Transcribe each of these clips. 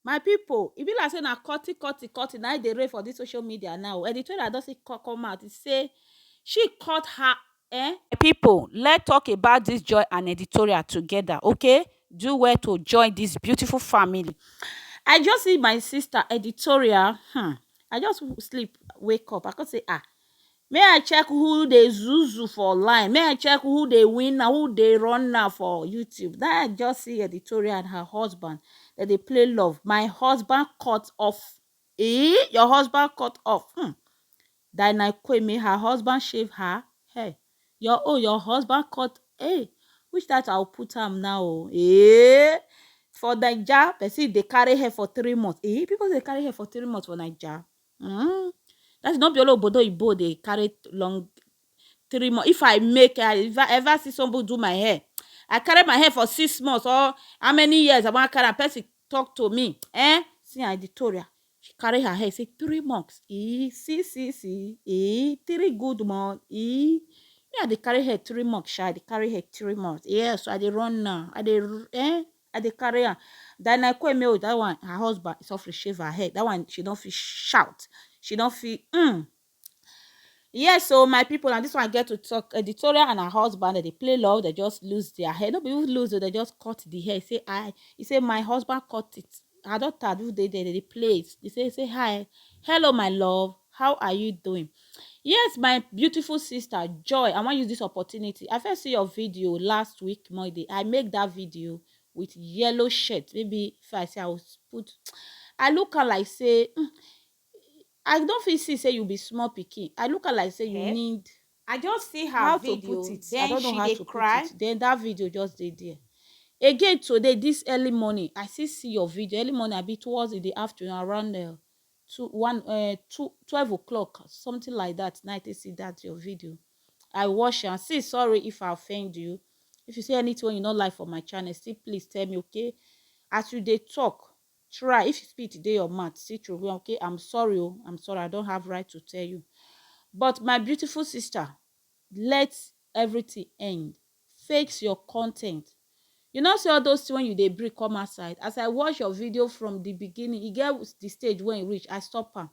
My pipu e be like sey na cutty cutty cutty na im dey reign for dis social media now o, editorial don still come out sey she cut her um. My pipu let talk about dis joy and editorial together okay, do well to join dis beautiful family. I just see my sister editorial um I just sleep wake up I come sey um Me I check who dey zuzu for line, me I check who dey win na who dey run na for YouTube. Then I just see editorial and her husband dem dey play love. My husband cut off. Eh, your husband cut off. Hmm. Dinah Kwame, her husband shave her hair. Your oh, your husband cut. Hey, which that I'll put am now? Oh, eh. For Naija, person dey carry hair for three months. Eh, people dey carry hair for three months for Naija. Mm. That's not be all obodo ibo dey carry long three months. If I make I if I ever see somebody do my hair, I carry my hair for six months or how many years I want carry am, person talk to me. Eh? See I Victoria. She carry her hair, say three months. E see see see e three good months. E me I dey carry hair three months, sha. I dey carry hair three months. Yes, I dey run now. I dey r- eh? I dey carry am. Diana Ikueme oh, that one her husband is off to shave her head. That one she don fit shout. She don fit mm. Yes oh, my people na this one I get to talk. Editorial and her husband dem dey play love, dem just lose their hair. No be even lose oh, dem just cut the hair. He say I, he say my husband cut it. her daughter do dey there, they play it. They say, say hi, hello my love, how are you doing? Yes, my beautiful sister Joy, I want use this opportunity. I first see your video last week Monday. I make that video with yellow shirt. Maybe if I say I will put, I look her like say, mm, I don't feel see say you be small picking. I look her like say you eh? need I just see her how video, to put it then I don't know she how to cry. put it then that video just dey there again today this early morning I still see your video early morning I be towards in the afternoon around uh, two one uh, two twelve o'clock something like that night I see that your video I watch and see sorry if I offend you if you see anything you not like for my channel still please tell me okay as you they talk Try if spit dey your mouth still throway am okay I'm sorry o I'm sorry I don't have right to tell you but my beautiful sister let everything end fix your content you no see all those thing wey you dey bring come outside as I watch your video from the beginning e get the stage wey e reach I stop am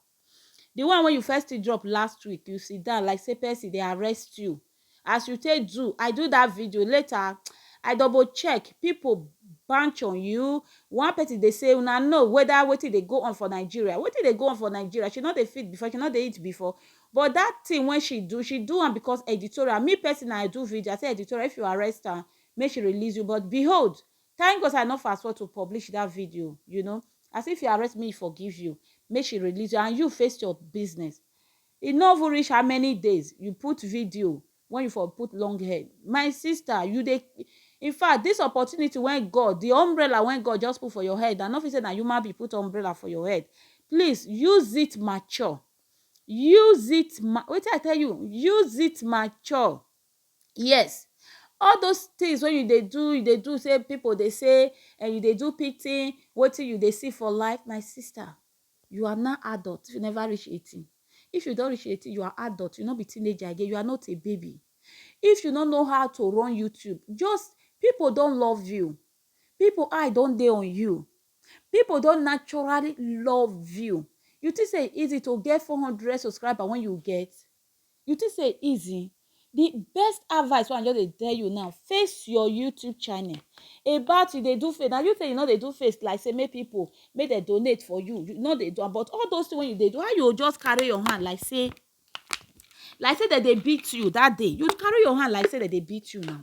The one wey you first still drop last week, you sit down like say person dey arrest you. As you take do, I do that video, later I double check, people bunch on you, one person dey say una know whether wetin dey go on for Nigeria, wetin dey go on for Nigeria, she no dey fit before, she no dey eat before, but that thing wey she do, she do am because editorial, me personal I do video, I say editorial if you arrest am, make she release you, but behold, Thank God say I no fast forward to publish that video you know as if you arrest me for give you make she release you and you face your business e no even reach how many days you put video when you for put long hair my sister you dey in fact this opportunity when God the umbrella when God just put for your head I no fit say na human being put umbrella for your head please use it mature use it ma wetin I tell you use it mature. yes all those things wey you dey do you dey do say people dey say and you dey do pity wetin you dey see for life my sister you are now adult you never reach eighteen if you don reach eighteen you are adult you no be teenager again you are not a baby if you no know how to run youtube just people don love you people eye don dey on you people don naturally love you you think say e easy to get four hundred subscriber when you get You think say e easy? The best advice wey I just dey tell you now, face your YouTube channel. About you dey do face, na you say you no dey do face like say make people make dem donate for you, you no dey do am but all those things wey you dey do, how you go just carry your hand like say like say dem dey beat you that day, you carry your hand like say dem dey beat you now.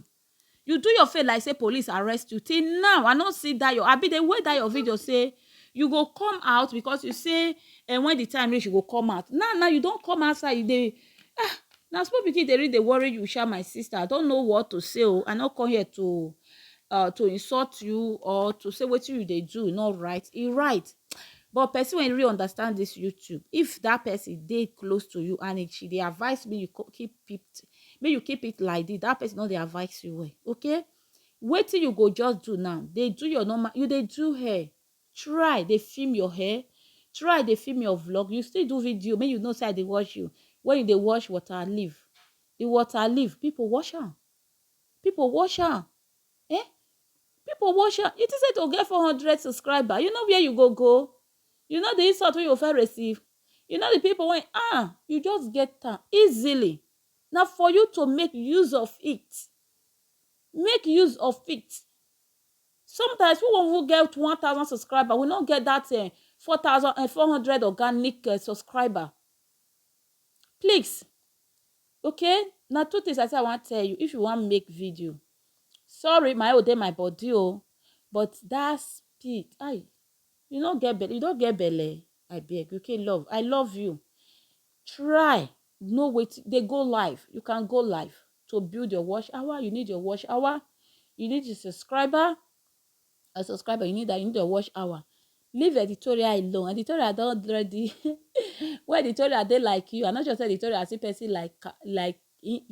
You do your face like say police arrest you till now I no see that your abi dey wait that your video say you go come out because you say eh, when the time reach you go come out now now you don come outside you dey ah na small pikin dey really dey worry you sha my sister I don't know what to say o I no come here to uh, to insult you or to say wetin you dey do no right e right but person wey really understand this YouTube if that person dey close to you and if she dey advise me you co- keep peep make you keep it like this that person don dey advise you well okay wetin you go just do now dey do your normal you dey do hair try dey film your hair try dey film your vlog you still do video make you know say i dey watch you when you dey wash water leave the water leave people wash am people wash am eh people wash am you think say to get four hundred subscriber you know where you go go You know di insult wey you go first receive? You know di pipo wey ah, you just get am easily. Na for you to make use of it. Make use of it. Sometimes we wan even get one thousand subscriber, we no get dat um four thousand um four hundred organic um subscriber. Please, okay, na two tins I sey I wan tell you if you wan make video. Sorry, my own dey my body o, but dat speed, ai! You no get belle, you no get belle I beg you okay love I love you try know wetin dey go live you can go live to build your watch hour you need your watch hour you need a subscriber a subscriber you need that you need your watch hour leave editorial alone editorial don already when editorial dey like you i no sure say editorial see person like like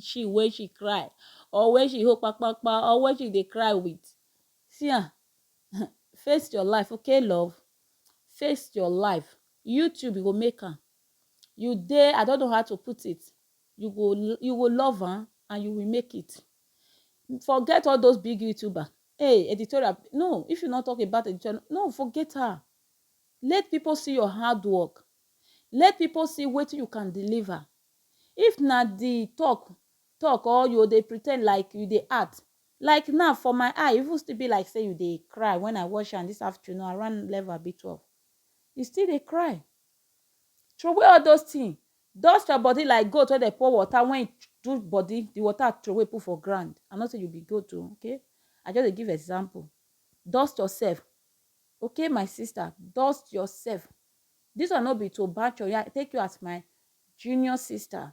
she wey she cry or when she hold kpakpakpa or when she dey cry with see am um face your life okay love face your life you too you go make am you dey i don't know how to put it you go you go love am and you will make it forget all those big youtuber hey editorial no if you not talk about editorial no forget her let people see your hard work let people see wetin you can deliver if na the talk talk or yo dey pretend like you dey act like now for my eye even still be like say you dey cry when I watch am this afternoon around eleven abi twelve you still dey cry throway all those thing dust your body like goat wey dey pour water when e do body the water throway put for ground I no say you be goat o okay I just dey give example dust yourself okay my sister dust yourself this one no be to bash your yah take you as my junior sister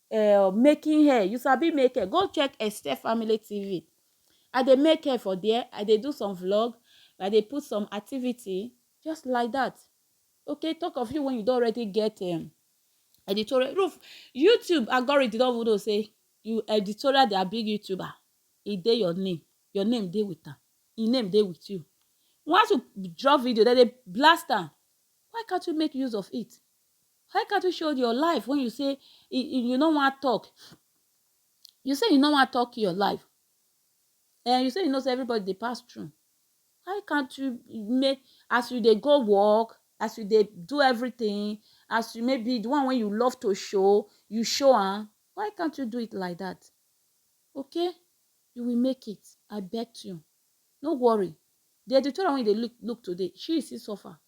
Eh oh making hair you sabi make hair go check Esther family TV I dey make hair for there I dey do some vlog I dey put some activity just like that okay talk of you when you don already get um, editorial roof YouTube algorithm don even know say you editorial their big YouTuber e dey your name your name dey with am e name dey with you once you drop video dem dey blast am why can't you make use of it Why can't you show your life when you say you no wan talk? You say you no wan talk your life. And eh, you say you know say everybody dey pass through. Why can't you make as you dey go work, as you dey do everything, as you maybe the one when you love to show, you show am. Why can't you do it like that? Okay? You will make it. I bet you. No worry. The editorial when you dey look look today, she still suffer.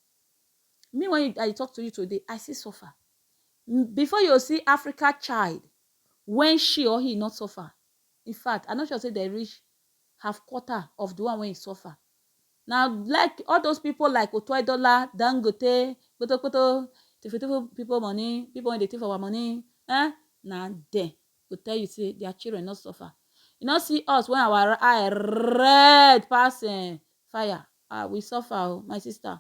Me when you, I dey talk to you today, I still suffer. Mm, Before you see Africa child when she or he not suffer. In fact, I no sure say they reach half quarter of the one when he suffer. Now, like all those people like Otoedola, Dangote, Koto Koto, Tifu Tifu people money, people when they thief our money, eh? Now them go tell you say their children not suffer. You not see us when our eye red pass eh, fire. Ah we suffer oh my sister.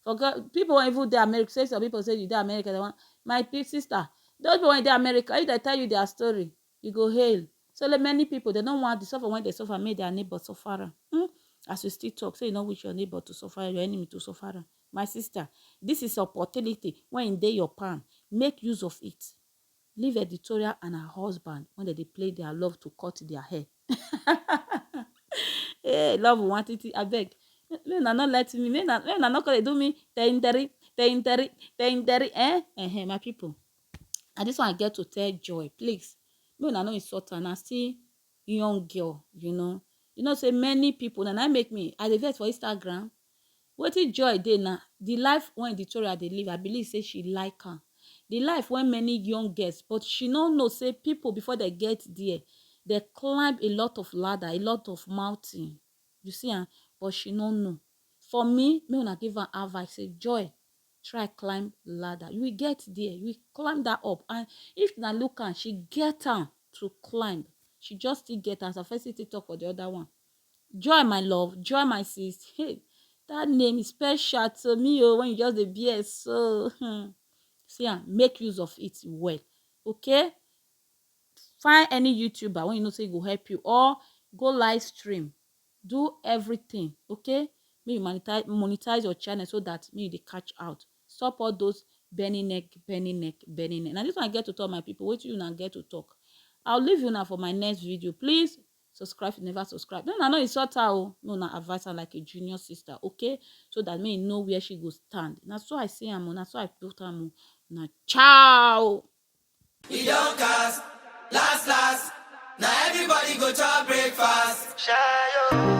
For God, people wey even dey America, say some people say you dey America, they want my pe- sister. Those people wey dey America, if they tell you their story, you go hail. So like many people, they don't want the suffer when they suffer, make their neighbor suffer. am. Hmm? As you still talk, say you don't wish your neighbor to suffer, your enemy to suffer. am. My sister, this is opportunity when they your palm. Make use of it. Leave Editorial and her husband when they dey play their love to cut their hair. hey, love one titi, I beg. May una not let me, may una, may una not come do me tenderi, tenderi, tenderi, eh? Eh, eh, my people. And this one I get to tell Joy, please, may una not insult her, na still young girl, you know. You know, say many people, na na make me, I dey vex for Instagram, Wetin joy dey na the life wey Victoria dey live, I believe say she like am. The life wey many young girls but she no know say people before they get there, they climb a lot of ladder, a lot of mountain. You see am, but she no know. For me, make una give am advice say joy, try climb ladder. You will get there, you will climb that up. And if una look am, she get am to climb. She just still get am. As I first still talk for the other one, Joy my love, joy my sis, hey that name is special to me oh when you just dey bear so hmm. see am make use of it well okay find any youtuber when you know say e go help you or go live stream do everything okay make you monetize monetize your channel so that make you dey catch out stop all those bending neck bending neck bending neck na this one i get to talk my people wetin una get to talk i'll leave una for my next video please subscribe if you never subscribe no na no insult her o no na advise her like a junior sister okay so that may you know where she go stand na so i see am o na so i put am o na ciao. e don cast last last na everybody go chop breakfast. Shayo.